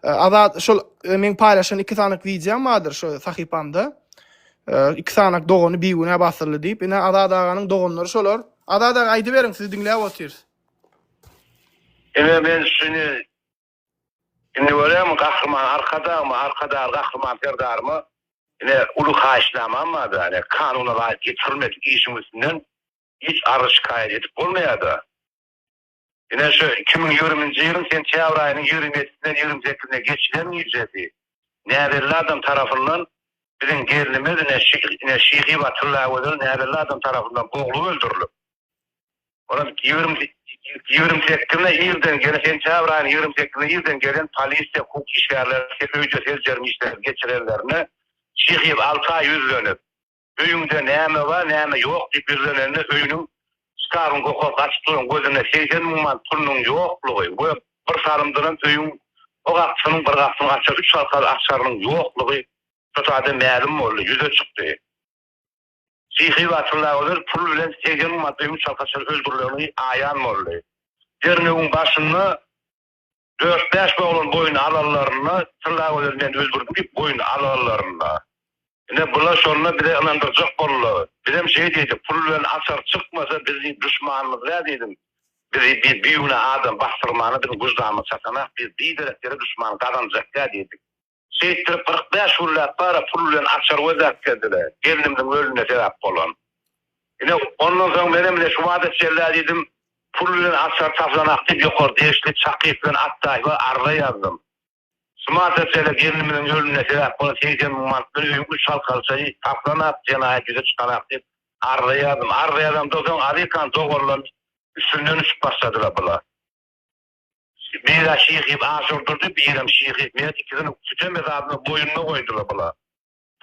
Azat şol e, men paýlaşan iki sanak wideom bardyr şu sahypamda. E, iki sanak dogany bigünä basyldy diýip. Ine Azat aganyň doganlary şolar. Azat aga aýdyberiň sizi diňläp otyrys. Ine men şuny indi görem gahryman arkadagmy, arkadag gahryman serdarmy? Ine uly haýyşnamam barda, ine kanuna laýyk ýetirilmedik işiň üstünden hiç arz şikaýat edip bolmaýarda. Ine, şu iki müň ýigriminji ýylyň sentýabr aýynyň ýigrimi ýedisinden ýigrimi sekizine geçilen gijesi näbelli adam tarapyndan biziň gelnimiz, ine, ine, Şyhyba Tyllagözel näbelli adam tarapyndan boglup öldürilip, olam ýigrimi, ýigrimi sekizine irden gelen, sentýabr aýynyň ýigrimi sekizine irden gelen polisiýa, hukuk işgärleri öýde seljerme işleri geçirenlerine Şyhyb alty aý ýüzlenip, Öýüňde näme bar, näme ýok diýip ýüzlenende öýüniň şkafyň gohasy açyk duran gözüne seýsen muňman pulunyň ýoklugy we bir salymdanam öýüň o gapysynyň bir gapysyny açar üç halkaly açarynyň ýoklugy Tutade mälim boldy, ýüze çykdy. Sihy Batyrla gözel pul bilen segsen muňman öýüň çalkaçar öldürilenigi aýan boldy. Derňewiň başynda Dört-bäş oglan boýun alanlarynda, Tylla gözel men öldürdim diýip boýun alganlarynda. Ine, bular şonda bize ynandyrjak boldular. Bizem şeý diýdik, pul bilen açar çykmasa, biz diýip duşmanymyz däl diýdim. Bizi diýip bigünä adam basdyrmana biziň wyždanymyz çatanak, biz biderek ýere duşman gazanjak däl diýdik. Şeýtdirip kyrk bäş günläp bara pul bilen açar gözläp gezdiler. Gelnimniň ölümine sebäp bolan. Ine, ondan soň menem ine şu wada çellä diýdim. Pul bilen açar taplanak diýip ýokary degişli Çakyýew bilen Atdaýewe arza ýazdym. Şu wada çellä gelnimniň ölümine sebäp bolan segsen müň manat bilen öýüň üç halkalçasy taplanak, jenaýat ýüze çykanak diýip arza ýazdym. Arza ýazamda soň azikan doganlar üstünden uçup başladylar bular. Biri-ä şyh iýip aş urdurdy, birem şyh iýip meýet ikisini sütem ezabyna boýnuna goýdular bular.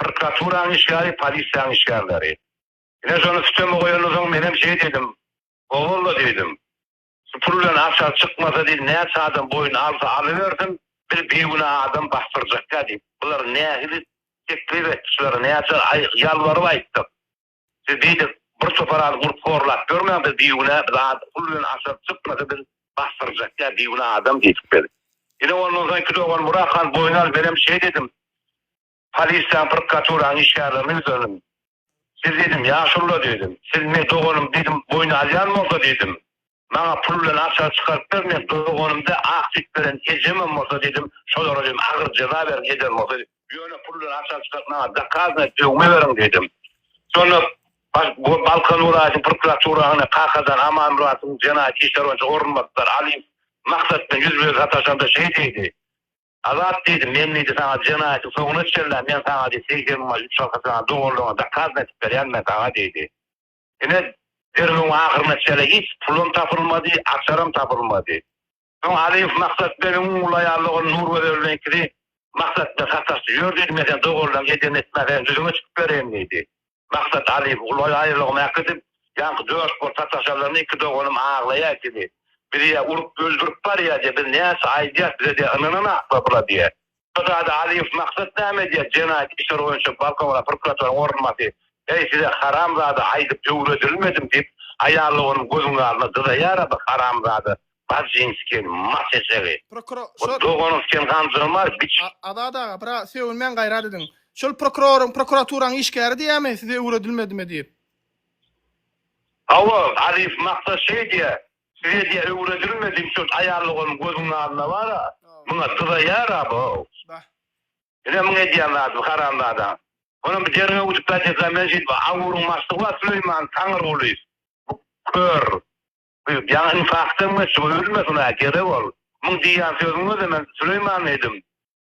Prokraturaň işgäri, polisiýaň işgärleri. Ine şony süteme goýandan soň menem şeý diýdim, Owalla diýdim. Şu pul bilen açar çykmasa diýdim, näçe adam boýun alsa alybersin, bir bigünä adam basdyrjakka diýip. Bular nähili teklip etdi şulara, näçe ýalbaryp aýtdyk. Siz diýdik, bir topar az gurt horlap görmäň, biz bigünä, biz az pul bilen aşak çykmasa biz basdyrjak ýa bigünä adam diýdik biz. Ine ondan soň iki dogan Burak han boýun al menem şeýt edim. Polisiýaň prkaturaň işgärlerine ýüzlendim. Siz diýdim ýaşulylar diýdim, siz meň doganym diýdim boýun alýan bolsa diýdim. Maňa pul bilen açar çykaryp ber, men doganym dä, ak süýt beren ejemem bolsa diýdim, şolara diýdim, agyr jeza beriň, eder bolsa, ýöne pul bilen açar çykaryp maňa dokazna döwme beriň diýdim. Şonda Balkan welaýatynyň prokuraturasyna Kakadan Amanmyradowyň jenaýat işleri boýunça orunbasary Alyýew Maksat bilen ýüz be sataşanda şeý diýdi, Azat diýdi, men diýdi saňa jenaýatyň soňuna çenlä men saňa diýdi segsen müň manat üç arka saňa doganlygyňy dokazna edip berýän men saňa diýdi. Ine, derňewiň ahyryna çenli hiç pulam tapylmady, açaram tapylmady. Soň Alyýew Maksat begiň on uly aýaly ogly Nurgözel bilen ikisi Maksat bilen sataşdy. Ýör diýdi, men seni doganlaryň edenini etmäsäýin, düzüňe çykyp bereýin diýdi. Maksat Alyýewi uly aýalygyna äkidip, ýaňky dört bolup sataşanlarynda iki doganym aglaýar diýdi. Bizi-ä urup, öldürip barýar diýýär. Biz näçe aýdýas, bize diýýär, ynananaklar bula diýýär. Gyzada Alyýew maksat näme edýär jenaýat işleri boýunça balkowra prokuratoryň orunbasy heý size haramzada aýdyp öwredilmedim diýip aýaly onuň gözüň alna dyzaýara bu haramzada Bajinskiň mas eşegi Prokuro şo doganyň sen ganjyrmar biç. Azat aga bira sögünmäň gaýrat ediň şol prokuroryň prokuraturaň işgäri diýämi size öwredilmedimi diýip. Hawa Alyýew maksat şeý diýä. Şwediýa öwredilmedi üçin aýallygym gözüň alna bara muňa dyza ýara boo. Bah. Ine muň edýän zady haramzadaň. Onam bir derňew gidip gaýtýasan bilen şeýdip awuryň maşlygy bar Süleýman Taňyrguly. Bu kör. Bu ýaňy infakdan geçdi bu ölmesin ha gerek ol. Muň diýýän sözüňe de men Süleýman edim.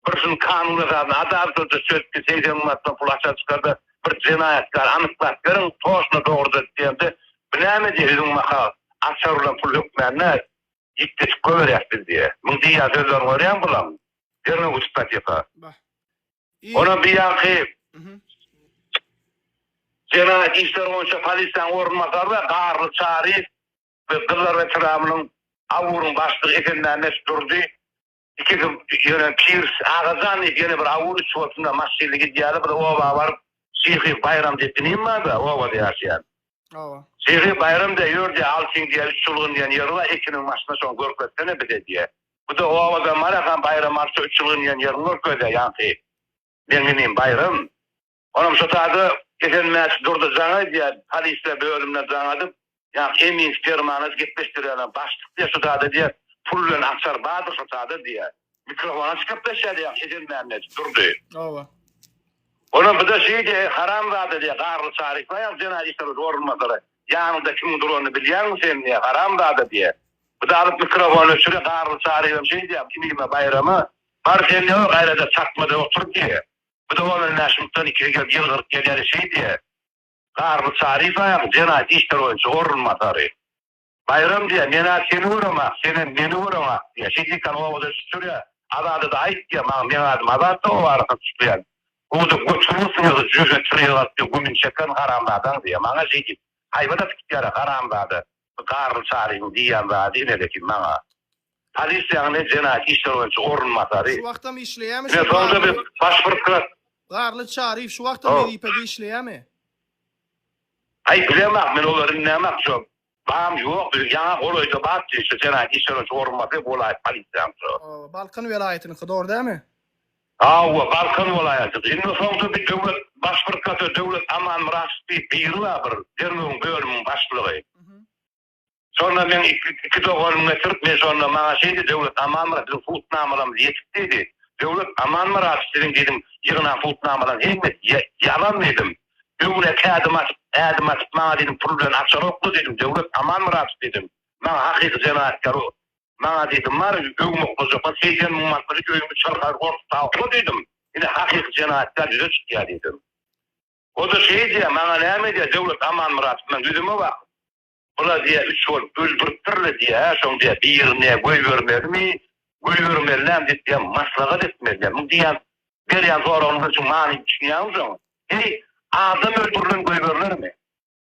Bir şul kanun esasynda adaltlyja çözüpdi seýsen manatdan pul aşa çykarda bir jenaýatkary anyklap beriň toşna dogruda diýende bu näme diýýä üzüň maha açar bilen pul hökmände ýitgeçik gowerýäs biz diýýä muň diýýän sözlerini görýäň bulam derňew gütüp gatyka onam biýanky jenaýat işleri boýunça polisiýanyň orunbasary garly çaryýew we gyzlar etrabnyň aburyň başlygy esenmämmet durdy Ikisi ýöne Pirs agajan diýip ýene bir awul içip oturyna maşynly gidýärler. Bir oba baryp Şyhy Baýram diýip inim barda obada ýaşaýan. Oba. Şyhy Baýram diýýär ýör diýýär Altyň diýýär üç çylgyn diýen ýeri bar Ekiniň başynda şony görkezsene bize diýýär. Bu da obadan barýarkam Baýrama şu üç çylgyn diýen ýerini görkezýär ýaňky meň inim Baýram. Onam şo taýda Esenmäç Durdy jaň edýär, polisler bölümine jaň adyp, ýaňky emin spermany gepleşdirýärler, başlyk diýýär şo taýda diýýär, pul bilen açar bardyr şo taýda diýýär. Mikrofona çykyp gepleşýär diýýär Esenmämmet Durdy. Oba. Onam bize şeý diýýär, haramzada diýýär, Garly Çary Ismaýlow jenayat işleri boýunça orunbasary, ýanyňda kimiň duranyny bilýäňmi sen diýýär, haramzada diýýär. Bize alyp mikrofony öçürýär, Garly Çaryýewem şeý diýýär, Kimime Baýrama, bar sen diýýär, gaýraja çakmada otur diýýär. Bu dowamly mäşupdan ikisi gelip ýylgyryp gelýäni şeýdýä. Garry Şarifowyň jenayat işleri boýunça orunbasary. Baýram diýýä, Men-ä seni göremok, senem meni göreňok diýýä. Şeýdikän obada çüçürýä. Azada-da aýt diýýä, Maňa meň adym Azatdy, obany gyzyklyýan. Guwuda götüňi syýygy jüýhe çyrygy galyp diýýä, gümün çeken haramzadaň diýýä. Maňa şeýdip, haýbat atyp gidýär-ä haramzada. Garl Çaryň diýýän zady inedeki maňa polisiýaň ne jenaýat işler boýunça orunbasary, Şu wagtam işleýämi şu Garly? Baş prokuror. Garly Çaryýew şu wagtam wezipede işleýämi? Aý bilemok men olar indemak şu bam ýok biziň ýaňa golaýda bar şu jenaýat işler boýunça orunbasary welaýat polisiýanyň şu. Balkan welaýatynyňky dogry dälmi? Hawa, Balkan welaýatydy. Indi soňda bir döwlet baş prkator Döwlet Amanmyradow diýip biri bar bir derňewiň bölümiň başlygy. Şonda meň iki doganymy getirip, men şonda maňa şeýdi, Döwlet Amanmyrat biziň putnamalarymyz ýetik diýdi. Döwlet Amanmyradow siziň diýdim ýygnan putnamalaryň hemmesi ýalan diýdim. Öňüne iki ädim atyp, ädim atyp maňa diýdim pul bilen açaroklar diýdim. Döwlet Amanmyradow diýdim. Maňa hakyky jenayatgary Maňa diýdim, Bar, öw mukdajapas, seýsen müň manatlyk iki öýüňi çyrkar gorsup tapypsyň diýdim. Ine, hakyky jenaýatkär ýüze çykýar diýdim. O-da şeý diýýär, Maňa näme diýýär, Döwlet Amanmyradow, men ýüzüme bakyp, Bular diýýär, üç bolup öldüripdir-le diýýär, şoň diýýär, birine goýbermelimi, goýbermelinem diýip diýýär, maslahat etmeli diýýär. Muň diýýän, berýän soragyňyza şu manyny düşünýäňmisoň? Heý, adam öldürilen goýberilermi?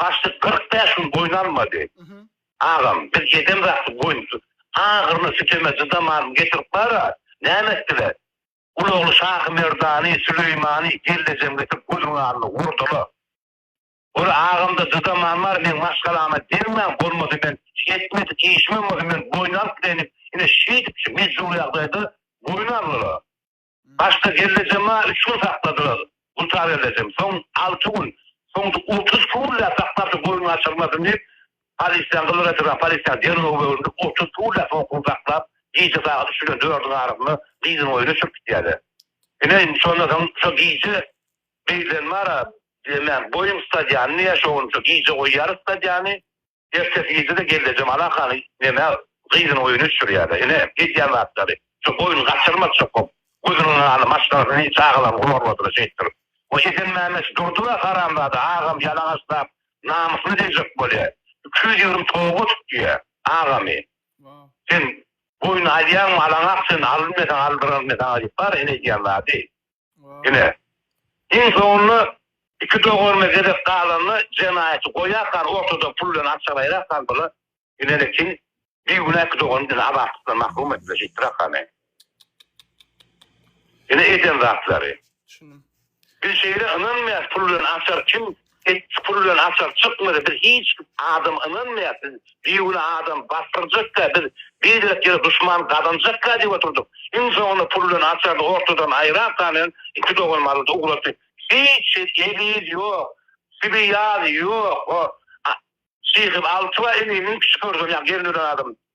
Başlyk kyrk bäş gün goýun almady. Agam, biz ýeden zatly goýun agyryna, süteme çydamazmy, getirip bar-a, näme etdiler? Ulagly Şahymerdany, Süleýmany, Geldejem getirip gözüň alnyna urdular. Ol agamda çydaman bar, meň maşgalama degmäň, bolmasa men ýetmedik işimem bolsa, men goýun alyp bileýin diýip, ine şeýdip, şu mejbur ýagdaýda goýun aldylar. Başda Gellejemaa üç gün sakladylar. Gultagellejem soň alty gün, soňra otuz iki günläp saklarsyň goýun gaçyrmasyn diýip, polisiýa, Gyzyl weteran polisiýa derňew bölündi. Otuz iki günläp soň goýun saklap, gije sagat üç bilen dördüň arasynda gyzyň öýüne çürüp gidýärler. Ine, indi şondan soň şo gije beýlenmara, diýemän, goýuň stadionyny ýa şo gün şo gije goýýarys stadiony. Ertesi irde-de gelnejem Ala hany neme gyzynyň öýüne düşürýärler. Ine, edýän zatlary. Şu goýun gaçyrmaz çokup, gözüniň nurany maşgalasy çagalaryny gumarladylar şeýtdir. Bu Esen Mämmet durdy-da, Haramzada agamy ýalaňaçlap, namysyna degjek bolýar. Iki ýüz ýigrimi toga tut diýýär. Agamy, sen goýun alýaňmy, alaňak sen, al diýmeseň aldyranym men saňa diýip bar, ine edýän zady. Ine, iň soňunda iki doganly gezek galanda jenaýaty goýarkar ortada pul bilen akja gaýrarkar bula ine-le kim bigünä iki dogany diňe azatlykdan mahrum etdiler şeýtdirakar ne. Ine eden zatlary. Düşündim. Biz şeýle ynanmaýas pul bilen açar kim Tek çukur bilen açar çykmady biz hiç adam ynanmaýar biz bigünä adam basdyrjakda biz beýlek ýere duşman gazanjakda diýip oturdyk iň soňunda pul bilen açary ortadan aýrap galaýan iki doganymyz ugrady hiç eziz ýok sibi ýaz ýok o şyhy altyba indi müň kişi görseň ýa gel ölen adam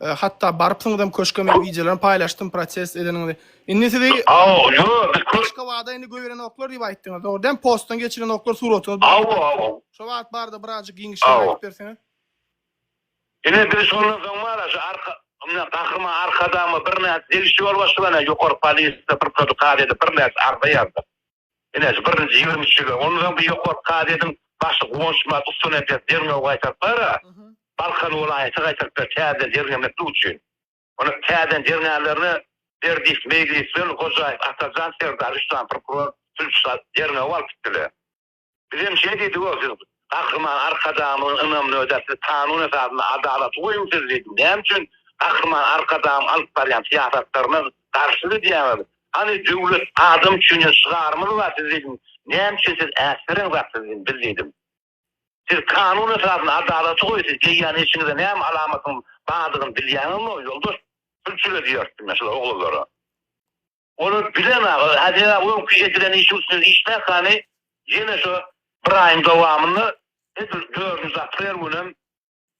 Hatda barypsyňyzam köşke men wideolaryny paýlaşdym protest edeniňizi. Indi sizi Aw ýo biz köş. Köşke wada indi göýerenoklar diýip aýtdyňyz dogry dämi postdan geçirenoklar suratyňyz bar. Aw aw. Şo wagt barada birazjyk giňişleýin aýdyp berseňiz. Ine biz şondan soň mara şu arka ymna gahryman arkadagma birnäçe degişli ýolbaşçylaryna ýokary polisiýa bir protokol edip birnäçe arza ýazdyk. Ine, birinji ýigrimi üç ýyla, ondan soň bu ýokary kazyýetiň başy Guwançmyrat Ustunepes derňewi gaýtaryplar-a, Balkan welaýaty gaýtaryplar täzeden derňemeklik üçin. Onda täzeden derňänlerine Berdiýew Meýlis bilen Hojaýew Atajan Serdar üç sany prokuror, sülçi derňewi alyp gitdiler. Bizem şeýle diýdik we siz Gahryman Arkadagymyzyň ynamyny ödäp, siz kanun esasynda adalaty goýuňsyz diýdik. Näme üçin Gahryman Arkadagymyň alyp barýan syýasatlaryna garşy gidýäňiz? Hany döwlet adam üçin diýen şygarymyz bar siz diýdim. Näme üçin siz äsgerän zat siz diýdim, biz diýdim. Siz kanun esasynda adalaty goýuň, siz eýýäm eşiňize näme alamatyň bardygyny bilýäňizmi, ýoldaş? Sülçüle diýerdim men şular oglanlara. Ony bilen aga, Azera öňki edilen işi üstüne işläs hany, ýene şu bir aýyň dowamynda edil dördünji aprel günem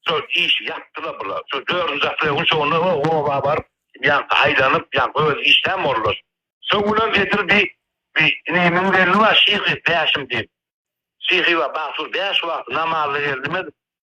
şo işi ýapdylar bular. Şo dördünji aprel gün şo günler o oba baryp, ýaňky aýlanyp, ýaňky özi işlän boldular. Şo günem edil bi bi ine müň geldi bar şyhy bäşim diýip. Şyhy bar Bagsur bäş wagty namazda geldi mi edip.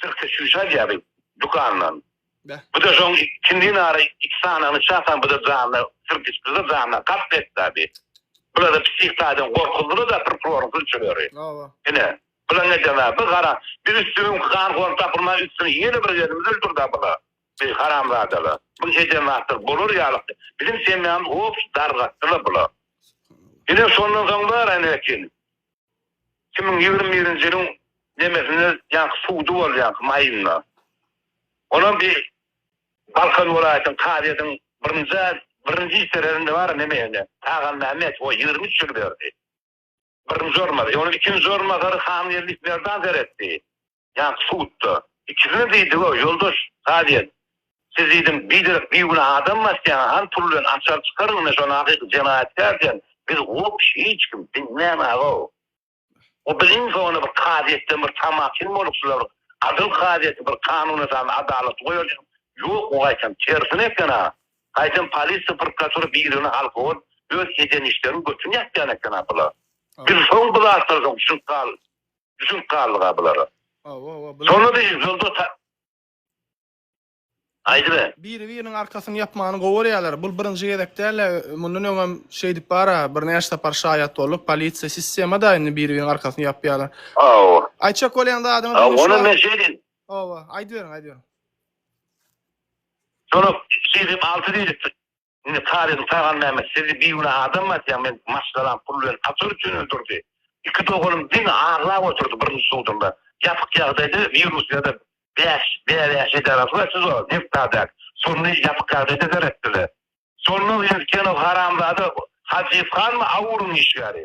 Sirkde çüýşe alýardy dükandan. Bu-da şoň ikindi nara iki sanagyny çakan bu-da janyna sirk içdi-de janyna kast etdadi. Bular-da psih taýdan gorkuzdylar-da prokuroryň sülçüleri. Ine, bularyň edeni-ä bu gara. Biz üstüni öňki ganhor tapylman üstüni ýene bir gezimiz öldürdi-ä bular. Bi haramzadalar. Buň eden zatlary bolar ýalyk däl. Biziň semýamyzy obşi dargatdylar bular. Ine, şondan soň bar ene ekin. Iki müň ýigrimi birinji ýylyň nemesinde ýaňky sudy bolýanky maýynda. Onam bir Balkan welaýatynyň kazyýetiň birinjä birinji işgärerinde bar neme ene Agammämmet o ýigrimi üç ýyl berdi. Birinji orunbasary. Ýöne ikinji orunbasary Hangeldi Merdan seretdi. Ýa-da sudda. Ikisine diýdi-ow, ýoldaş kazyýet, siz diýdim, biderek bigünä adam basýaňyz, han pul bilen açar çykaryň, ine şonda hakyky jenaýatkär sen, biz wop hiç kim, diňlämag-ow. O bir iň soňunda bir kazyýetden bir tamahyn bolup şular adyl kazyýeti bir kanun esasynda adalaty goýar diýdim, ýok bu gaýtam tersine eken-a, gaýtam polisiýa, prokuratura birigine halka bolup öz eden işleriniň götüni ýapýan eken-a bular. Biz soň bu zatlara soň düşünip galdyk. Düşünip galdyga bulara. Hawa, hawa, bular. Şonda da ýolda ta... Aýdybe. Biri-biriniň arkasyny ýapmany gowy görýärler. Bul birinji gezek däl, mundan öňem şeýdip bar-a, birnäçe sapar şaýat bolduk. Polisiýa, sistema-da indi biri-biriniň arkasyny ýapýarlar. Hawa. Aýtjak bolýan zadyňyz indi şular. Ony men şeýdin. Hawa, aýdyberiň, aýdyberiň. Şonda siz hem alty diýlipsiz. Indi Talybyň Taganmämmet sizi bigünä adammy atýaň men maşgalam pul bilen açar üçin öldürdi. Iki doganym diňe aglap oturdy birinji sudunda. Ýapyk ýagdaýda bir Russiýada bäş bäbäş edarasy bar siz o Neftadak şony ýapyk ýagdaýda seretdiler. Şonda Üskenow haramzada Hajyýew hanmy AWURyň işgäri.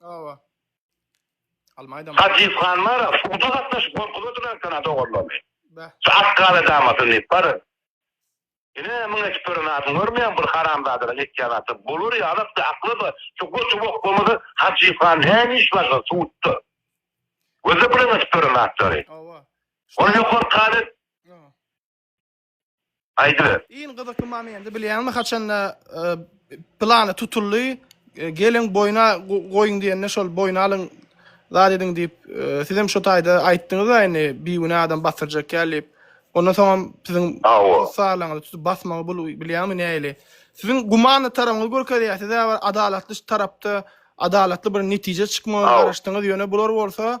Awa. Almaýdam. Hajyp Hanmara suda gatnaşyp gorkuzadylar sana doganlaryny. Bä. Şu akgala damasyn diýip bar. Ine mün etip gören adyny görmeýän bir haramzadalaň etýän aty bolar ýalakdy akly bar şu goçy bokbamazy Hajyp Han näme iş başa sudda. Gözle bilen etip gören atlary. Awa. Ol ýokary kazyýet. Aýdyber. Iň gyzykly momenti bilýäňmi haçanda plany tutuldy geliň boýna goýuň diýende şol boýna alyň zat ediň diýip sizem şo taýda aýtdyňyzda indi bigünä adam batyrjak ýaly diýip ondan soňam siziň hossarlaňyzy tutup basmagy bul bilýäňmi näili siziň gumany tarabyňyzy görkezýär sizä bir adalatly tarapda adalatly bir netije çykmagyna garaşdyňyz ýöne bular bolsa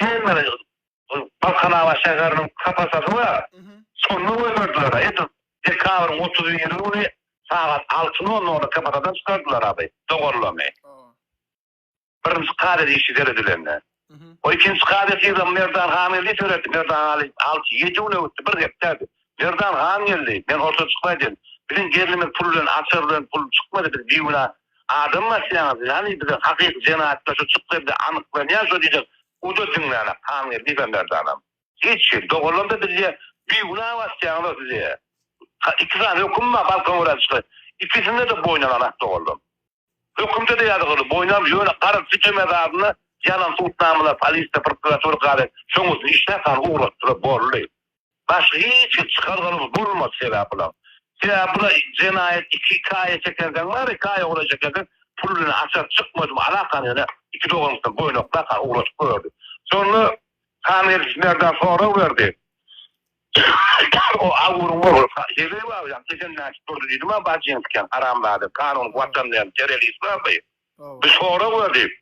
Kämil Balkanabat şäheriniň kapatasy bar. Şonda goýberdiler-ä. Edil dekabryň otuz biri güni sagat alty nol nolda kapatadan çykardylar abi, doganlaryny. Birinji kat edişi seredilende. O ikinji kat edişi Merdan Hamiýew diýip ýörerdi. Merdan Hamiýew alty, ýedi güne gitdi, bir hepdä. Merdan han geldi. Men orta çykyp aýdym. Biziň gelnimiz pul bilen açar bilen pul çykmady biz biguna adamy basýaňyz siz hany bize hakyky jenaýatkar şu çykderde anyklanýa şo diýjek uda diňlänak han geldi diýip merdanam. Hiç hil dogalandy bizje biguna basýaňyzok size ha iki sany höküm bar balkan gören çyky ikisindede boýna ganak dogalan hökümde de ýazyk uly boýnam ýöne garyp süte mezarynda ýanan sudnamalar polisde prokuratura gade şoň uçin işläp han ugratdylar bolly. Başga hiç kim çykar zalym bolmaz sebäp bular. Sebäp bular jenaýat iki kaýa çekenseň bary kaýa golaý çekenseň pul bilen açar çykmadymy alakany ýöne iki doganysyn goýnaklaka ugradyp gördi. Şonda Hamidow Merdan sorag berdi. O Awguryň ogly Heleý baba ýa ejem näçip durdy diýdima Bajinskiň haramzada kanun watan diýen terrorist bardy. Biz sorag berdik.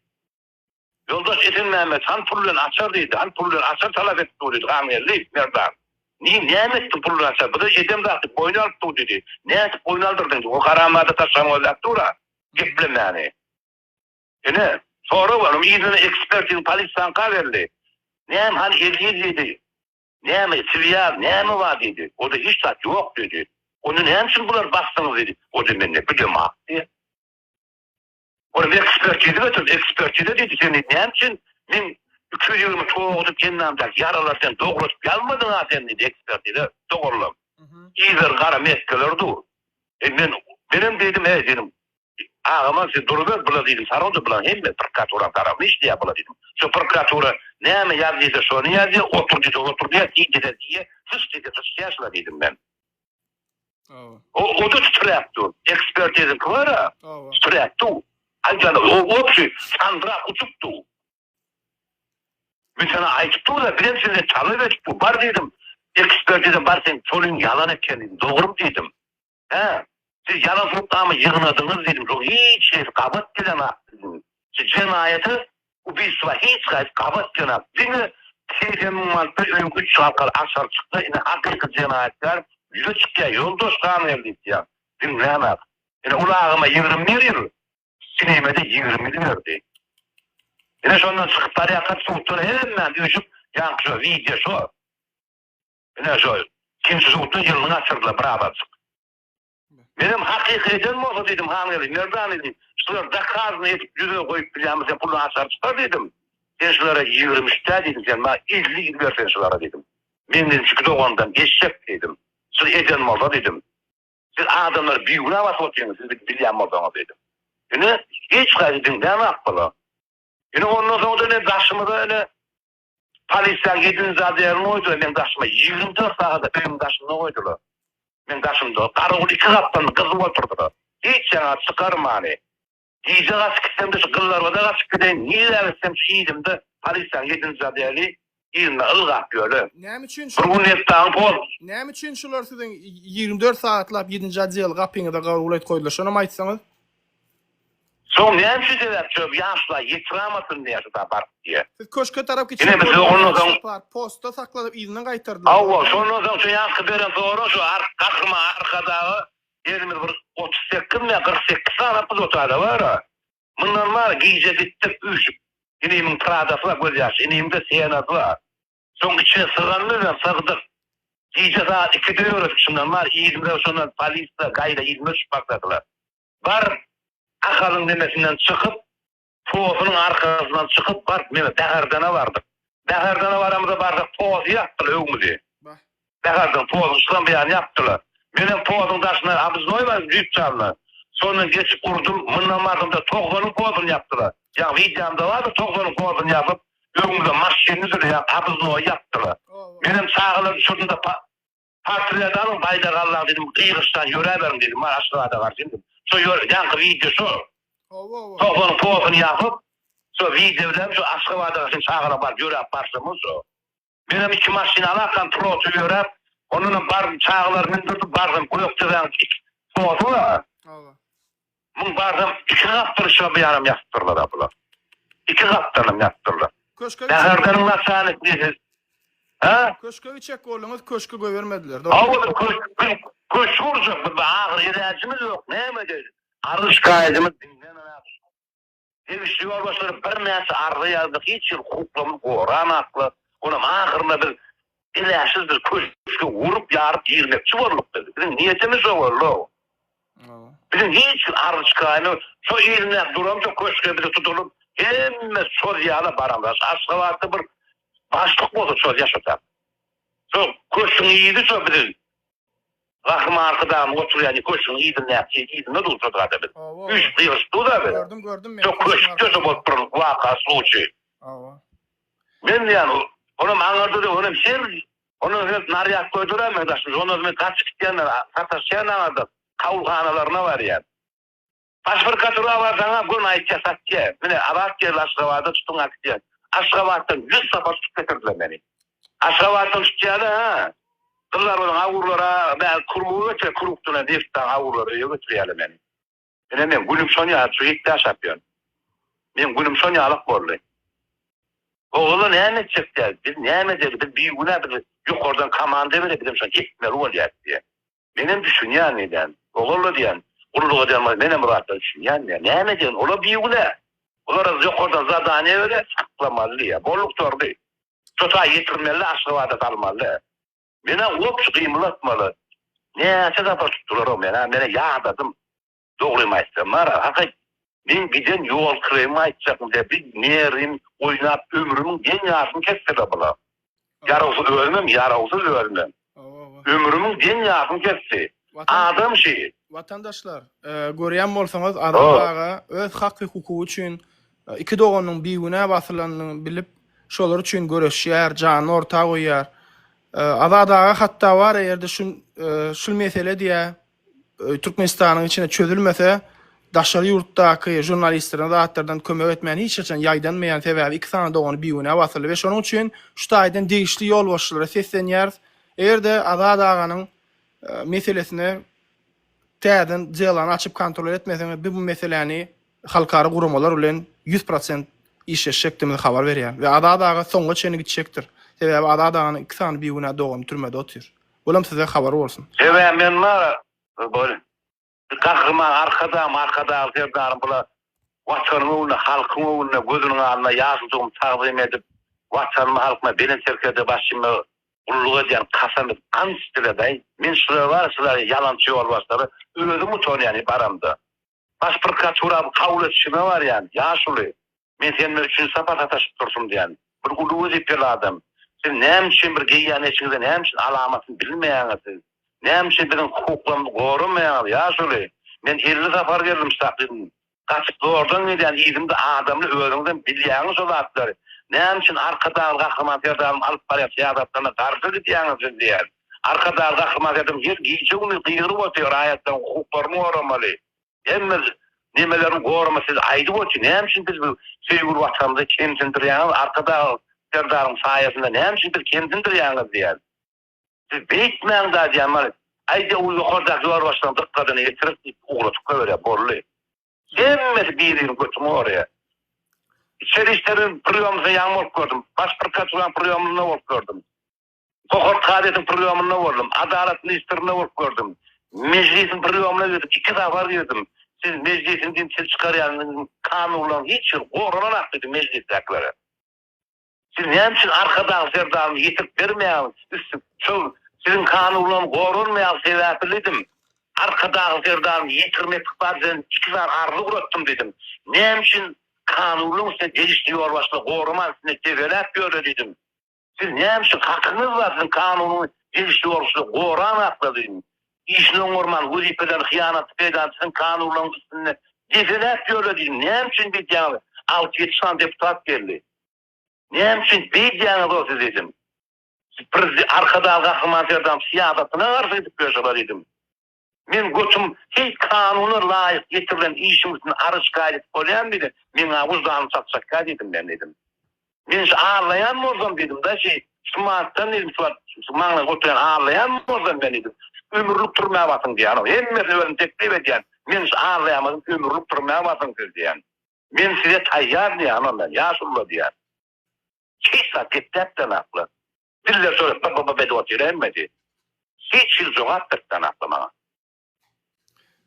Ýoldaş Esenmämmet, han pul bilen açar diýdi, han pul bilen açar talap edip dur diýdi, Hangeldi, merdan. Ni, näme etdiň pul bilen açary, bize edem zat diýip, boýun alyp dur diýdi. Nädip boýun aldyrdyň diýdi, o haramzada taşlanyp gözläp dur-a, geplemäni. Ine, sorag bar, onuň yzyna ekspertiz polisiýaňka berli. Näme, han Eziz diýdi, näme, Swiýaz, näme bar diýdi, o-da hiç zat ýok diýdi. Onda näme üçin bulary basdyňyz diýdi, o-da mende, bu-da maňa diýdi. Ony bir ekspertize götürip, ekspertize diýdi, Sen diýdi, näme üçin meň iki ýüz ýigrimi toguzyň hendamdaky ýaralary sen dogrudyp ýazmadyň-a sen diýdi, ekspertize, dogrulam. Yzlary gara mesgeler dur. E, men, menem diýdim, Eý, diýdim, agam-a sen duruber, bula diýdim, sarawda bulaň hemmesi prokuraturanyň tarapyna işleýär bula diýdim. Şu prokuratura näme ýaz diýse, şony ýazýar, otur diýse, otur diýýär, iý diýse, iýýär, syç diýse, syçýar şular diýdim men. O, o-da titräp dur. Ekspertiziňki bar-a? Hawa. Titräp dur. Aýdaly, o wobşi, sandyrak uçup dur. Men saňa aýdyp dur-da, birem senden talap edip dur. Bar diýdim, ekspertiza bar, seň tolyň ýalan eken diýdim. Dogrymy diýdim? Hä? Siz ýalan subutnama ýygnadyňyz diýdim. Şoň hiç hili gabat gelenok diýdim. Siz jenaýaty Ubistwa hiç haýsy gabat jenap diňe segsen müň manatdan öňki üç halkaly aşar çyksa indi hakyky jenaýatkär ýüze çykýa ýoldaş gan geldi diýýa diňlämok. Ine ulagyma ýigrimi berin sinemede ýigrimi ýüz berdi. Ine şondan çykyp barýarkam suddan hemmam üýşüp ýaňky şo wideo şo. Ine şo ikinji sudda ýylyny gaçyrdylar birabarjyk. Menem hakyky eden bolsa diýdim, Hanweli, Merdan indi şular dakazyny edip ýüze goýup bilýärmi sen puluny açar çykar diýdim. Sen şulara ýigrimi üç dä diýdim, sen maňa elli ýüz ber sen şulara diýdim. Menden iki dogandan eşek diýdim. Şuny eden bolsa diýdim. Siz adamlary bigünä basyp otyrsyňyz siz gidip bilýän bolsaňyz diýdim. Ine hiç haýsy diňlämok bula. Ine ondan soň-da ine daşymyza ine Polisiýaň edil zat ýerine goýdular, meň daşyma ýigrimi dört sagada öýüň daşynda goýdular. Meň daşymda garawul iki gapdalymda gyzyp otyrdylar. Hiç ýana çykarmany. Gije gaçyp gitsem-de şu gyllarbada gaçyp gideýin, nirä gitsem şu yzymda polisiýaň edil zat ýeri yzynda ylgap ýörün. Näme üçin şu. Bir gün Netdagyň pol. Näme üçin şular siziň ýigrimi dört sagatlap ýedinji odýaly gapyňyza garawul edip goýdular, şonam aýtsaňyz? Soň näme üçin sebäp çöp ýaşla ýetirämasyn diýýä şuda baryp diýýä. Siz köşke tarap gitseň bolýar. Postda sakladyp yzyna gaýtardylar. Hawa şondan soň şu ýanky beren soraň şu Gahryman Arkadaga gelmedi bir otuz sekizmi ýa kyrk sekiz sany pul otade bara. Mundan bar gije gitdik üýşüp. Inimiň pradasy bar göz ýaşy inimde senasy bar. Soň içe syganly we sygdyk. Gije sagat ikide ýöredik şundan bar yzymyza şondan polisler gaýra yzyma düşüp başladylar. Bar Ahalyň nemesinden çykyp posynyň arkasyndan çykyp baryp mine Bäherdana bardyk. Bäherdana baramyza barsak posy ýapdylar öwmüzi. Säherden pozuň çykan bir ýany ýapdylar. Menem pozuň daşyna obrznoýlaryň düýpjanyna sondan geçip urdum. Mundan barzymda Togzalyň pozuny ýapdylar. Ýa wideomda bardyr Togzalyň pozuny ýapyp, öňümde maşyny sürýän obrznoýy ýapdylar. Menem çagalary düşürdim-de pa, portret alyň, baýdak aldaň diýdim, gygyryşýan ýöräberiň diýdim, bar Aşgabada garşy indi. Şo ýör, ýaňky wideo şo. Togzalyň pozuny ýapyp, şo wideo bilen şo Aşgabada garşy çagalar baryp ýöräp barşymyz şo. Menem iki maşyn alakam troty ýöräp ondanam bardym çagalary mündürdim bardym gökdepäň iki troty bar a. Hawa. Muň bardym iki gapdal şo bir ýanam ýatypdyrlar a bular. Iki gapdalam ýatypdyrlar. Köşke geçip. Säherdeniň naçalnik diýsiz. Hä? Köşke geçjek bolduňyz köşki goýbermediler dogry. Hawa bir köşk köşk gurjak bir agyr ýeräjimiz ýok näme edeýin. Arzyş gaýdymyz diňden Degişli ýolbaşçylar birnäçe arza ýazdy, hiç hili hukuklarymyzy goramakla, olam ahyrynda biz biläsiz bir köşge gurup, ýaryp girmekçi bolduk biz. Biziň niýetimiz şo boldy. Biziň hiç bir arz-şikaýamy şo ilmän duran şo köşge bizi tutulyp, hemme şol ýala baramyz. Şu Aşgabatda bir başlyk bolsa şol ýaşasa. Şo köşgüň ýizi şo biziň. Gahryman Arkadagymyz oturýan köşgüň yzyndaky yzynda durşudyga da biz. Üýşüp ýygyryşdyga biz. Gördüm, gördüm. Şo köşkde-de bolup duran waka, sluçiý. Hawa. Men diýýän, onam aňarda-da, onam her Ondan öňem narýad goýdular-a meň daşyma. Ondan soň men gaçyp gitýän, sataşýan aňardan. Kabulhanalaryna barýan. Baş bir katura bar saňa gön aýtýas aktýa mine Azat geldi Aşgabada tutuň aktýa Aşgabatdan ýüz sapar tutup getirdiler meni Aşgabatdan tutýada ha gyzlar bilen awurlara bäl kurlugy götüre kurukduna neftaň awurlara öýe götürýäle meni ine men günüm şon ýaly çüýk ýaşap ýörün men günüm şon ýalak boldy ogula näme etjek däl biz näme edeli biz bigünä biz ýokardan komanda bere bizem şony etmeli bolýas diýe. Menem düşünýän edýän. Ogul edýän. Gulluk edýän bol. Menem Myratdan düşünýän edýän. Näme edýän? Olar bigünä. Olara ýokardan zadaniýe berýär, saklamaly ýa. Bolduk torby. Çota ýetirmeli, Aşgabada salmaly. Menä goç gymylatmaly. Näçe sapar tutdular o menä. Menä ýadadym. Dogrymy aýtsam Mara haky men giden ýol kyrymyň aýtjakmy dä biz nerin oýnap ömrümiň deň ýarysyny kesdila bula. Ýarawsyz ölmem ýarawsyz ölmem. Ömrümiň deň ýarysyny kesdi. Adam şi. Watandaşlar görýän bolsaňyz Azat aga öz hak we hukugy üçin iki doganynyň bigünä basylanyny bilip şolar üçin göreşýär janyny orta goýýar. Azat aga hatda bar egerde şul mesele diýä Türkmenistanyň içinde çözülmese, daşary ýurtdaky žurnalistlerine zatlardan kömek etmän hiç haçan ýaýdanmaýan, sebäbi iki sany dogany bigünä basyldy we şonuň üçin şu taýdan degişli ýolbaşçylara seslenýäris, eger-de Azat aganyň meselesine täzeden delany açyp kontrol etmeseňiz, biz bu meseläni halkara guramalar bilen ýüz prosent işleşjekdigimizi habar berýän we Azat aga soňuna çenli gitjekdir. Sebäbi Azat aganyň iki sany bigünä dogany türmede otyr. Olam size habar bolsun. Sebäbi men ma bol Gahryman Arkadagym Arkadagly Serdarym bula Watanyň öňünde halkyň öňünde gözüniň alnyna ýaşujygym tagzym edip Watanyma halkyma Belent Serkerde başymda gulluk edýän kasam edip ant içdiler daýy men şular bar şular ýalançy ýolbaşçylary özüm utanýan baramda Baş prokuratura kabul edişime barýan, Ýaşuly, men sen bilen üçünji sapar sataşyp durşum diýýän. Bir uly wezipeli adam. Siz näme üçin bir geýýän eşigiňize näme üçin alamatyny bilmeýäňiz siz? Näme üçin biziň hukuklarymyzy goramaýaňyz, Ýaşuly? Men elli sapar geldim şahydym. Gaçyp zordan gelýän yzymda adamly özüňizem bilýäňiz şo zatlary. Näme üçin Arkadag Gahryman Serdarymyz alyp barýan syýasatlaryna garşy gidýäňiz siz diýýän. Arkadag Gahryman Saýdam her gije-gündiz gygyryp otyr raýatlaryň hukuklaryny goramaly, hemme nemelerini goramaly siz aýdyp otyr näme üçin biz bu söýgüli watanymyzy kemsindirýäňiz Arkadag Serdaryň saýasynda näme üçin biz kemsindirýäňiz diýýän. Siz beýtmäň da diýýän maňa aýda u ýokardaky ýolbaşçylaryň dykgatyny ýetirik diýip ugradyp goýberýär bolly. Hemmesi bir-biriniň götüni goraýar. Içeri işleriň prýomyna ýaňy bolup gördüm. Baş prokuraturanyň prýomynda bolup gördüm. Hohort kazyýetiň prýomynda boldum. Adalat ministrinde bolup gördüm. Mejlisiň prýomyna gidip iki sapar girdim. Siz Mejlisiň dintiri çykarýandygyň kanunlaryň hiç biri gorananok diýdim Mejlisdäkilere. Siz näme üçin Arkadag Serdaryny ýetirip bermeýäňiz üstüp şol siziň kanunlaryň goranmaýandygy sebäpli diýdim. Arkadag Serdaryny ýetirmek ykbady bilen iki sany arza gurapdym diýdim. Näme üçin kanunlaryň üstüne degişli ýolbaşçylar goraman üstünde debeläp ýörler diýdim. Siz näme üçin hakyňyz bar siziň kanunyň degişli bolşuna goran akladyň işini oňarman wezipelerini hyýanatly peýdalanyp siziň kanunlaryňyz üstünde depeläp ýörediň näme üçin beýdýäňiz alty ýedi sany deputat geldi näme üçin beýdýäňiz o siz edim siz arkadagly Gahryman Serdarymyz syýasatyna garşy gidip ýörşüňiz edim Men götüm heý kanuna laýyk ýetirilen işiň üstüne aryşka edip bolýarmy diýdi. Meň-ä wyždanym çakjakka diýdim men diýdim. Men şu arlaýan bolsam diýdim-da şi şu martdan diýdim şu wagt şu maňlaýda oturýan arlaýan bolsam men diýdim ömürlik türmä basyň diýýän hemmesini özüm teklip edýän men şu arlaýanmydym ömürlik türmä basyň siz diýýän. Men size taýýar diýýän onda ýaşulylar diýýän. Hiç zat gepläpdem akly. Diller şöyle bı-bı-bı edip otyr-a hemmesi. Hiç hili jogap beripdän asla maňa.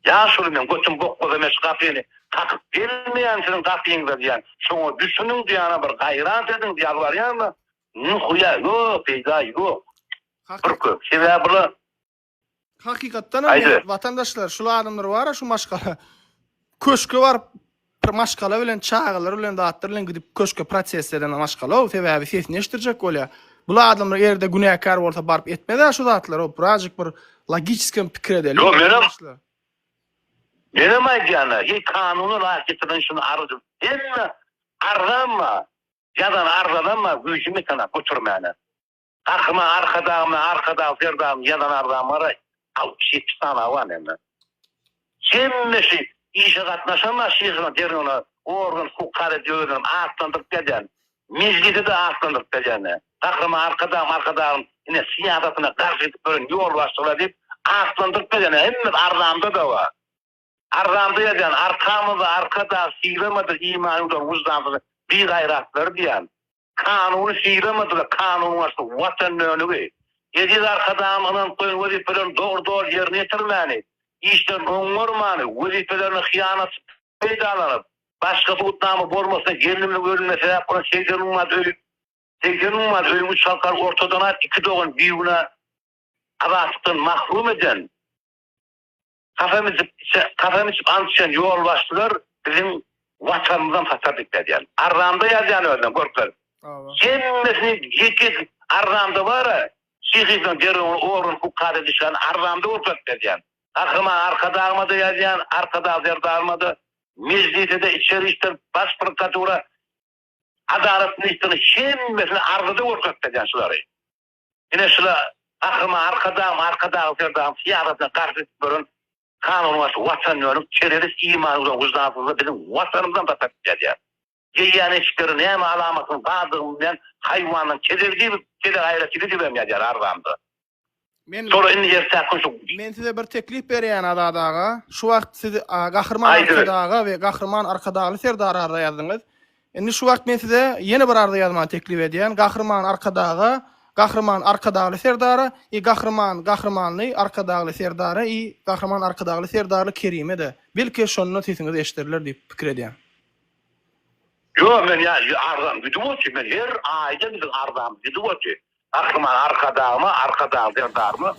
Ýaşuly men götüm bokmasa men şu gapyny kakyp gelmeýän siziň gapyňyza diýýän. Şoňa düşüniň diýýän-a bir gaýrat ediň diýip ýalbarýan-da. Nihuýa ýok, peýda ýok. Bir köp sebäbi bar. Hakykatdanam men watandaşlar şul adamlar bara şu maşgala köşke baryp bir maşgala bilen çagalar bilen zatlar bilen gidip köşke protest eden maşgala o sebäbi sesini eşitdirjek bolýar. Bu adamlar erde günäkär bolsa baryp etmezä şu zatlar o birazjyk bir logiçkem pikir edeli. Yo menem menem aýdýana hiç kanuny rahat getiren şunu arzym. Hemme arzanma. Ýazan arzanma güýjümi sana götürmäne. Garryma Arkadagymyz, Arkadag Serdarymyz ýazan arzam garaý, altmyş, ýetmiş sanawy bar näme. Hemmesi işe gatnaşanlar şyhyna, derňewine organ hukuk karaýjy özüni atlandyryp gelýän, mejlisi-de atlandyryp gelýän. Garryma Arkadagym, Arkadagyň ine syýasatyna garşy gidip ýören ýolbaşçylar diýip atlandyryp gelýän. Hemmesi arzamda-da bar. Arzamda ýazýan, Arkamyzda Arkadag, Sylamadyr iman ýuwdan wyždansyz bigaýratlar diýýän. Kanuny sylamady we kanun garşy Watan dönügi, Eziz Arkadagymyz ynanyp goýan wezipelerini dogry-doly ýerine ýetirmäni, işlerini oňňarmany, wezipelerine hyýanat peýdalanyp, başga subutnama bolmasa gelnimiň ölümine sebäp bolan segsen ummaz öýi segsen ummaz öýi üç halkany ortadan aýyp, iki dogan bigünä azatlykdan mahrum eden, Kasam içip, kasam içip ant içen ýolbaşçylar biziň Watanymyzdan hasap etmeýär. Arramda ýazýan özüne görkeziň. Hemmesini ýekeje arramda bar-a, şyhynyň derewini ogurlyk hukada düşen arramda görkezip berýär. Gahryman Arkadagymada ýazýan, Arkadag Serdarymada, Mejlisede, Içeri işler, Baş prokuratura, Adalat ministrine hemmesini arramda görkezip berýär şulary. Ine şula Gahryman Arkadagym, Arkadagly Serdarym syýasatyna garşy edip ýören kanunbaşy watanýönik terrorist iman we wyždansyzlar biziň Watanymyzam daşary çykarýar. Geýýän eşikleri näme alamatyň bardygy bilmän haýwanyň kezegi diýip kezek aýra çigi diýibem ýazýar arzanda. Şolar indi ertäk gün şu. Men size bir teklip berýän Azat aga. Şu wagt siz Gahryman Arkadaga we Gahryman Arkadagly Serdara arza ýazdyňyz. Indi şu wagt men size ýene bir arza ýazmany teklip edýän, Gahryman Arkadaga, Gahryman Arkadagly Serdara i Gahryman Gahrymanly Arkadagly Serdara i Gahryman Arkadagly Serdarly Kerime-de, belki, şonda sesiňiz eşideriler diýip pikir edýän. Ýo, men ýa arzam gidip otdy, men her aýda biziň arzamyz gidip otdy. Gahryman Arkadagyma, Arkadagly Serdaryma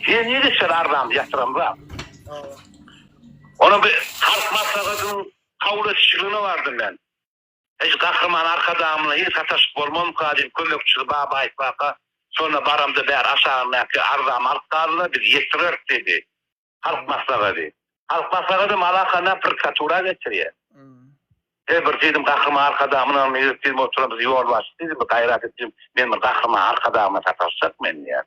her ýyl içer arzamyzy ýatyramzam. Onam bir halk maslahatynyň Kabul etişligine bardym men. Eji Gahryman Arkadagymyna hiç sataşyp bolmamyka diýip kömekçisi Baba aýtmaka, şonda baramda bäri aşagyndaky arzamy alyp galyna biz ýetireris diýdi. Halk maslagady. Halk maslagadam alakandan prokuratura geçirýär. He bir diýdim Gahryman Arkadagymyna ýörüp diýdim oturan biz ýolbaşçy diýdim bir gaýrat et diýdim men bir Gahryman Arkadagymyna sataşjak men diýýän.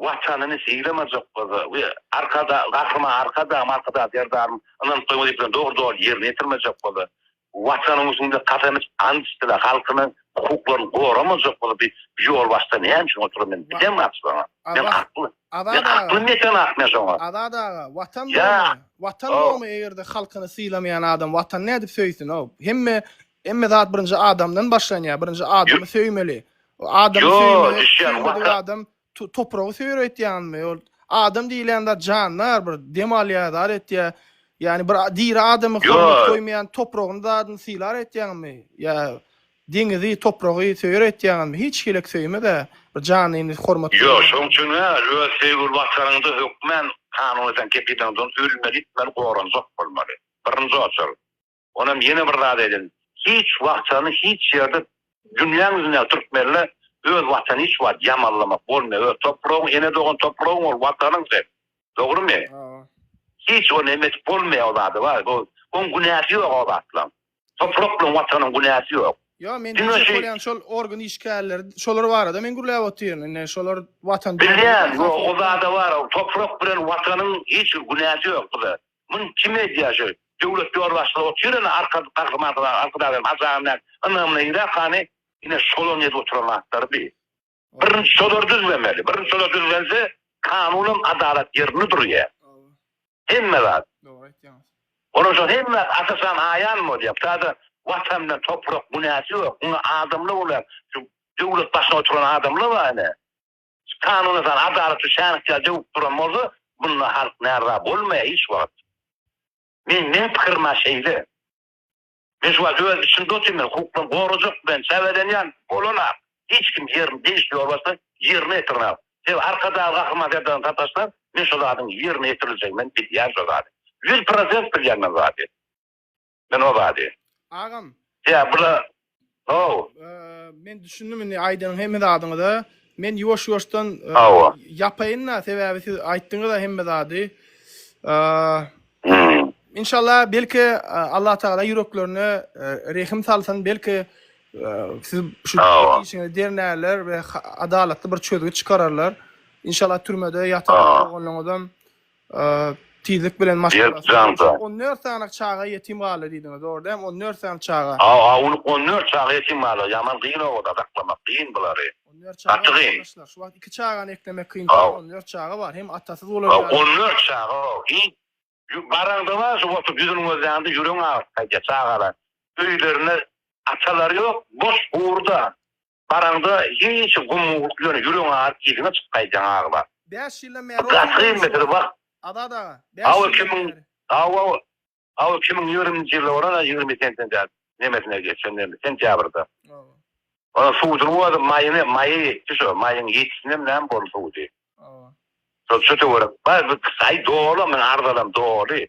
Watanyny sylamajak-bolsa we Arkadag, Gahryman Arkadagym, Arkadag Serdarym ynanyp goýan wezipelerini dogry-doly ýerine ýetirmejek bolsa, Watanyň üstünde kasam içip, ant içse-de, halkynyň hukuklaryny goramajak bolsa, bi ýolbaşçy näme üçin oturan, men bilýän gaty şoňa. Men hakly. Men haklymy ýeten ak men şoňa? Azat aga, Watan bormy? Watan bormy, eger-de halkyny sylamaýan adam Watany nädip söýsün-ow? Hemme, hemme zat birinji adamdan başlanýar. Birinji adamy söýmeli. O adam Yo, söýmek, düşýän, söýmedik waka- adam tu- topragy söýreýtýänmi? Ol adam diýilýän zat jandar, bir dem alýar, zat etýär. Ýani bir a- diri adamy Yo. hormat goýmaýan topragyny zadyny sylar etýäňmi? Ýa deňizi, topragy söýer etýäňmi? Hiç hilik söýme-de, bir janyny hormat Ýok, goýmaýan. şoň üçin ha, öz söýgüli watanyňda hökmän kanuny sen kepileriňden ölmeli, itmeli, goranjak bolmaly. Birinji oçar. Onam ýene bir zat aýdyn. Hiç wagtany hiç ýerde dünýäň ýüzünde türkmenle öz watany hiç wagt ýamanlamak bolmaýar. Öz topragyň ene dogan topragyň ol watanyň sen. Dogrymy? Hiç o neme edip bolmaýar o zady bar. Bu oň günäsi ýok o zatlaň. Toprak bilen watanyň günäsi ýok. Ýok men diýjek bolýan şol organ işgärleri şolar barada men gürläp otyryn. Indi şolar watan. Bilýän ýok o zada bar. Toprak bilen watanyň hiç bir günäsi ýok bu zat. Muny kim edýär şu döwlet ýolbaşçylary otyr-a arka gahrymanymyz Arkadagym hem Hajy agam näme ynamyna ýöräp hany ine şolar edip oturan zatlary bi birinji şolar düzlemeli birinji şolar düzlense kanun hem adalat ýerinde durýar hemme zat dogry aýtýaňyz ondan soň hemme asasan aýan bolýar butada watan bilen toprak günäsi ýok muňa adamlar bolýar şu döwlet başyna oturan adamlar bar ine Şu kanuna sal, adalat şu şänikçä döwüp duran bolsa, bunda halk närza bolmaýar hiç wagt. Men, meň pikirim-ä şeýle. Men şu wagt öz içimde otyryn, men hukuklary gorajak bilen çäbelenýän bolana, hiç kim ýerini degişli ýolbaşçydan ýerine ýetirmän. Sebäbi Arkadag Gahryman Serdardan sataşsaň, men şo zadyň ýerine ýetiriljegini men bilýän şo zady. Ýüz prosent bilýän men zady. Men o zady. Agam. Ýa bula How. Men düşündim indi aýdan hemme zadyňyza. Men ýuwaş-ýuwaşdan ýapaýyn-da, sebäbi siz aýtdyňyz-a hemme zady. Inşallah belki Allah Taala ýüreklerine rehim salsyn, belki siz şu işiňizi dernerler we adalatly bir çözgüt çykararlar. Inşallah türmede ýatan bolanyňyzam Tizlik bilen maşgalasyna On dört sany çaga ýetim galdy diýdiňiz, dogry dämi? On dört sany çaga. Hawa, on dört çaga ýetim galýar. Ýaman kyn obada saklamak, kyn bulary. Gaty kyn. Şu wagt iki çagany eklemek kyn. On dört çaga bar. Hem atasyz bolar. On dört çaga. Hiç. Baraňda bar, şu oturyp ýüzüni gözläňde ýüregiň agyrýar. Çagalar öýlerinde atalary ýok, boş, hurda. Baraňda hiç gumgulyk bilen ýüregiň aryp yzyňa çykyp gaýdýaň aglap. Bäş ýyldan bäri oýun goýmuşyň wah. Gaty Azat aga. Bäş ýyldan bäri. Hawa hawa. Hawa iki müň ýigriminji ýylda bolan ýigrimi sentender nemesine geçen näme sentýabrda. Hawa. Ol suwudyny goýadyk maýyny maýa ýetdi şo maýyň ýetisinem näme boldy suwudy. Hawa. Şo şu töwerek bar bir saý doly men arzalam doly.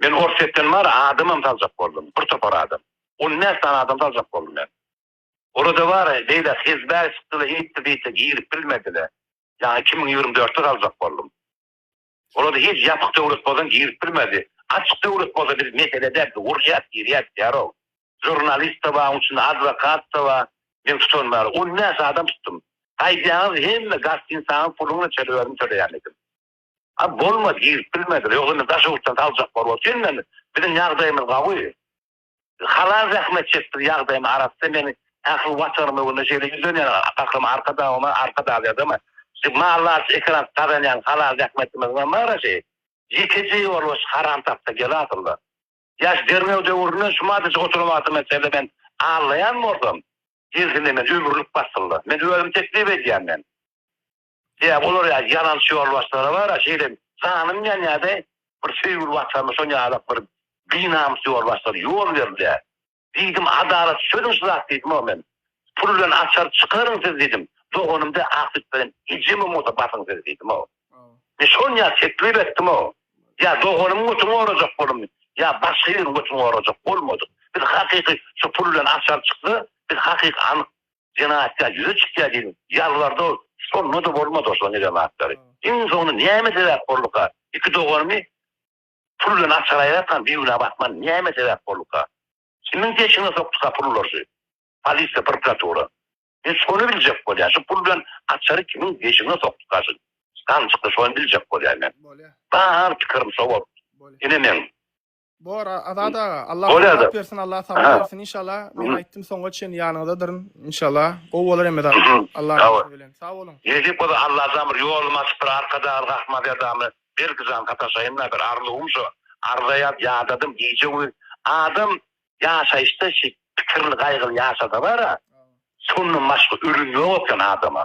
Men Orsýetden bary adamam saljak boldum, bir topar adam. On bäş sany adam saljak boldum men. Ola-da bary beýle hezbäý çykdy-da, eýtdi-beýtdi, girip bilmedi-le. Ýagny iki müň ýigrimi dörtde saljak boldum. Ola-da hiç ýapyk döwlet bolsaň girip bilmezdi. Açyk döwlet bolsa bir mesele däl, biz urýas, girýäs diýär-ow. Žurnalist-de bar, onuň içinde adwokat-da bar. Men tutan bary on bäş adam tutdum. Gaýdýaňyz hemme gostinsaňyň puluny çöle özüm töleýän edim. A bolmady girip bilmediler ýok indi daş ýurtdan saljaklar bor sen men biziň ýagdaýymyz gawy halal zähmet çekdik ýagdaýym arassa meni ähli watanyma öwrüne şeýle ýüzlenýän gahryman arkadagymyz arkadag ýadama şu mally aç ekeranç gazanýan halal zähmetimiz bilen mara şeý ýekeje ýol boş haram tapsa gel asylda ýaş derňew döwründen şu madejik oturan wagtym men seni men allaýan bolsam gelsin de men ömürlik basylda men özüm teklip edýän men. Sebäbi olar ýaly ýalançy ýolbaşçylary bar-a, şeýle janym ýanýardy, bir söýgüli Watanyma şon ýalak bir binamys ýolbaşçylar ýol berilýär. Diýdim, adalat çözüň şu zat diýdim-ow men. Pul bilen açar çykaryň siz diýdim. Doganym deý ak süt bilen ejemem bolsa basyň siz diýdim-ow. Men şon ýaly teklip etdim-ow. Ýa doganymyň götüni gorajak boldum, ýa başga ýeriň götüni gorajak bolmadyk. Biz hakyky şu pul bilen açar çyksa, biz hakyky anyk Jenaýatkär ýüze çykýar diýip ýalbardy ol. Şonda-da bolmady oslaryň eden zatlary. Iň soňunda näme sebäp bolduka? Iki doganymy pul bilen açar aýratkaň bigünä batman näme sebäp bolduka? Kimiň peşine sokduka pullar şu? Polisiýa, prokuratura. Men şony biljek bolýan, şu pul bilen açary kimiň peşine sokduka şu gamçykly şony biljek bolýan men. Bar pikirim şo bolupdy. Ine meň Bor Azat aga, Allah rahat bersin, Allah sabat bersin inşallah. Men aýtdym soňa çen ýanyňdadyryn inşallah. Gowy bolar hemme zat. Allah rahat bilen. Sag boluň. Nesip bolsa Allah jan bir ýolumy açyp bir Arkadag rahmat edamy. Belki jan sataşaýyn da bir arzuwym şo. Arza ýaz ýadadym gije güýz. Adam ýaşaýyşda şi pikirli gaýgyly ýaşasa bara. Şondan başga ölüm ýok eken adama.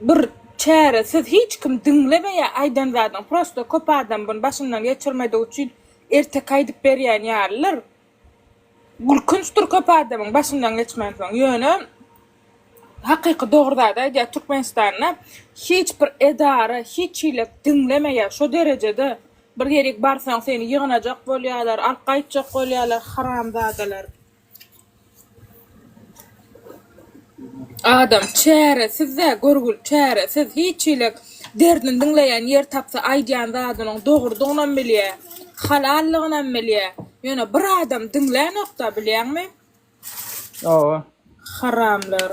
Bir çäre siz hiç kim diňlemeýä aýdan zadyň prosta köp adam buny başyndan geçirmedigi üçin erteki aýdyp berýän ýalydyr gülkünçdir köp adamyň başyndan geçmänsoň ýöne hakyky dogry zady aýdýar Türkmenistanda hiç bir edara hiç hili diňlemeýä şo derejede bir ýerik barsaň seni ýygnajak bolýalar alyp gaýtjak bolýalar haramzadalar. Adam çäresiz-dä, görgül çäresiz. Hiç hili derdini diňleýän ýer tapsa, aýdýan zadynyň dogrudygynam bilýär, halallygynam bilýär. Ýöne bir adam diňlänok-da, bilýäňmi? Haramlar.